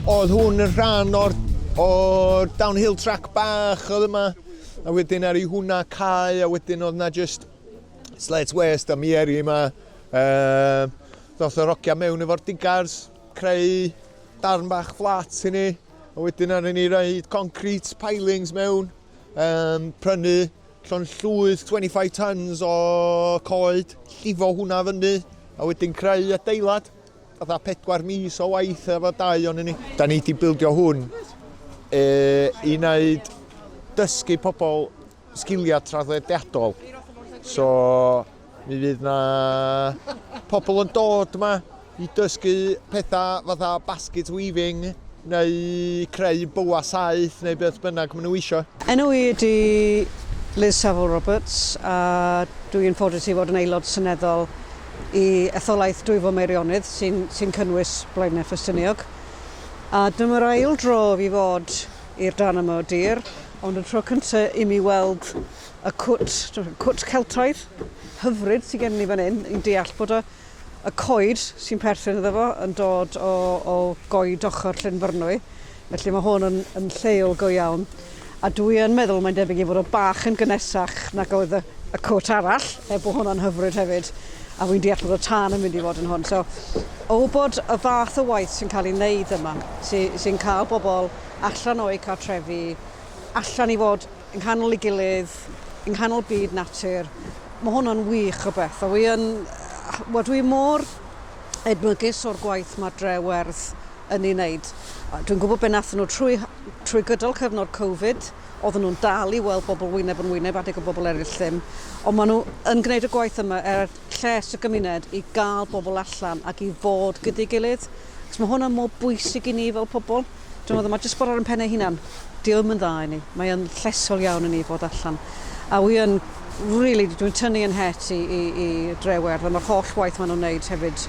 Oedd hwn yn rhan o'r, or downhill track bach oedd yma, a wedyn ar ei hwnna cae, a wedyn oedd na just slate waste a mi eri yma. Uh, Doth yr ogia mewn efo'r digars, creu darn bach fflat i ni, a wedyn ar ni roi concrete pilings mewn, um, prynu llond llwyth 25 tons o coed, llifo hwnna fyny, a wedyn creu adeilad, fatha pedwar mis o waith efo dau o'n ni. Da ni wedi bildio hwn e, i wneud dysgu pobl sgiliau traddodiadol. So, Mi fydd 'na pobl yn dod 'ma i dysgu petha fatha basket weaving neu creu boa saeth neu beth bynnag maen nhw eisiau. Enw i ydy Liz Saville Roberts a dwi yn ffodus i fod yn Aelod Seneddol i etholaeth Dwyfor Meirionnydd sy'n sy'n cynnwys Blaenau Ffestiniog a dyma'r ail dro i fi fod i'r darn yma o dir ond y tro cyntaf i mi weld Y cwt, cwt Celtaidd hyfryd sy gen ni fan hyn, ni'n deall bod y, y coed sy'n perthyn iddo fo yn dod o, o goed ochr Llynfyrnwy, felly mae hwn yn, yn lleol go iawn. A dwi yn meddwl mae'n debyg i fod o bach yn gynesach nag oedd y, y cwt arall, er bod hwnna'n hyfryd hefyd, a fi'n deall bod y tân yn mynd i fod yn hwn. So, o bod y fath o waith sy'n cael ei wneud yma, sy'n sy cael bobl allan o'u cartrefi, allan i fod yng nghanol ei gilydd, yng nghanol byd natur. Mae hwnna'n wych o beth. A wi yn... Wel, dwi mor edmygus o'r gwaith mae Dre Werdd yn ei wneud. Dwi'n gwybod beth nath nhw trwy, trwy gydol cyfnod Covid, oedden nhw'n dal i weld bobl wyneb yn wyneb adeg y bobl eraill ddim, ond maen nhw yn gwneud y gwaith yma er lles y gymuned i gael bobl allan ac i fod gyda'i gilydd. Cos mae hwnna mor bwysig i ni fel pobl. Dw i'n meddwl, mae jyst bod ar ein pen ei hunan, dio ddim yn dda i ni. Mae yn llesol iawn i ni fod allan. A wi yn, really, dw i'n tynnu yn het i, i, i Drewerdd am yr holl waith maen nhw'n wneud hefyd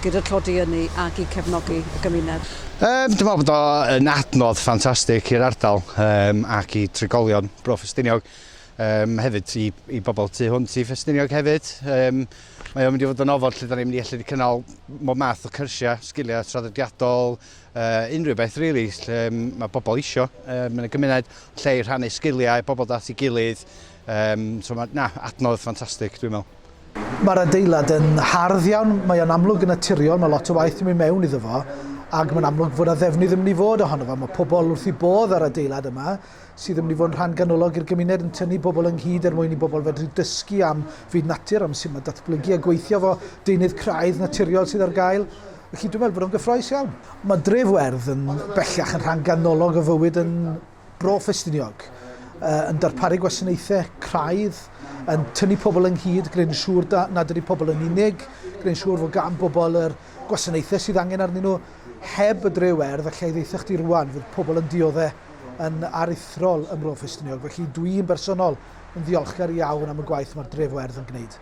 gyda'r tlodi ynni ac i cefnogi y gymuned. Ehm, dwi'n meddwl bod o yn adnodd ffantastig i'r ardal ehm, ac i trigolion Bro Ffestiniog. Ehm, hefyd i, i bobl tu hwnt i Ffestiniog hefyd. Ehm, mae o'n mynd i fod yn ofod lle da ni'n mynd i allu cynnal mob math o cyrsiau, sgiliau traddodiadol, uh, unrhyw beth really, lle mae pobl isio. Uh, mae'n gymuned lle i rhannu sgiliau, pobl dat i gilydd. Um, so mae, na, adnodd ffantastig, dwi'n meddwl. Mae'r adeilad yn hardd iawn, mae o'n amlwg yn naturiol, mae lot o waith yn mynd mewn iddo fo, ac mae'n amlwg fod y ddefnydd yn mynd i fod ohono fo. Mae pobl wrth i bodd ar adeilad yma, sydd yn mynd i fod yn rhan ganolog i'r gymuned yn tynnu bobl ynghyd er mwyn i bobl fedru dysgu am fyd natur, am sy'n mae datblygu a gweithio fo deunydd craidd naturiol sydd ar gael. Felly dwi'n meddwl bod o'n gyffroes iawn. Mae dref werdd yn bellach yn rhan ganolog o fywyd yn Bro Ffestiniog, yn darparu gwasanaethau craidd, yn tynnu pobl ynghyd, gwneud yn siŵr nad ydy pobl yn unig, gwneud yn siŵr fod gan bobl yr gwasanaethau sydd angen arnyn nhw. Heb y dref werdd, allai ddeitha chdi rwan, fydd pobl yn dioddau yn aruthrol ym Mro Ffestiniog, felly dwi'n bersonol yn ddiolchgar iawn am y gwaith mae'r dref werdd yn gwneud.